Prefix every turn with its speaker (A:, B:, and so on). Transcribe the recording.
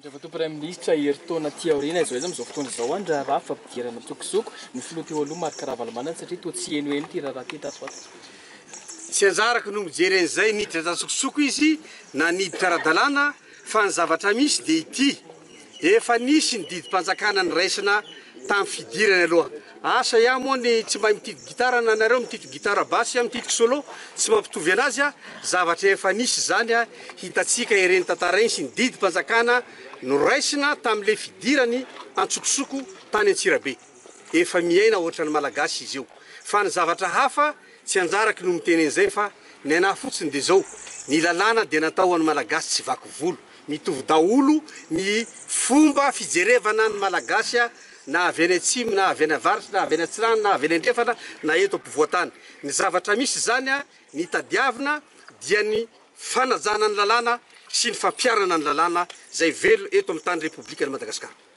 A: Andriamatoa
B: Praiminisitra, herintaona aty aoriana izao izany amin'izao fotoana izao ny raharaha fampidirana an-tsokosoko ny Filoha teo aloha Marc Ravalomanana satria toa tsy henoheno ity raharaha ity tato ho ato. Tsy
C: anjarako no mijery an'izay niditra tan-tsokosoko izy na niditra ara-dalàna fa ny zavatra misy dia ity, efa nisy ny didim-panjakana niraisina tamin'ny fidirany aloha. Asa iah moa ny tsy mahay mititiky gitara na nareo mititiky gitara basy iah mititiky solo tsy mampitovy anazy ah zavatra efa nisy izany ah hitatsika ireny tantara iny sy ny didim-panjakana noraisina tamle fidirany antsokosoko tany antsirabe efa miaina ohatrany malagasy izy io fa ny zavatra hafa tsy anjarako no miteny an'izay fa ny anah fotsiny de zao ny lalàna dia natao hoany malagasy tsy vaky volo Mitovy daholo ny fomba fijerevana ny Malagasy na avy any atsimo na avy any avaratra na avy any atsinanana na avy any andrefana na eto ampovoan-tany. Ny zavatra misy izany, ny tadiavina dia ny fanajana ny lalàna sy ny fampiharana ny lalàna izay velona eto amin'ny tany Repoblikan'i Madagasikara.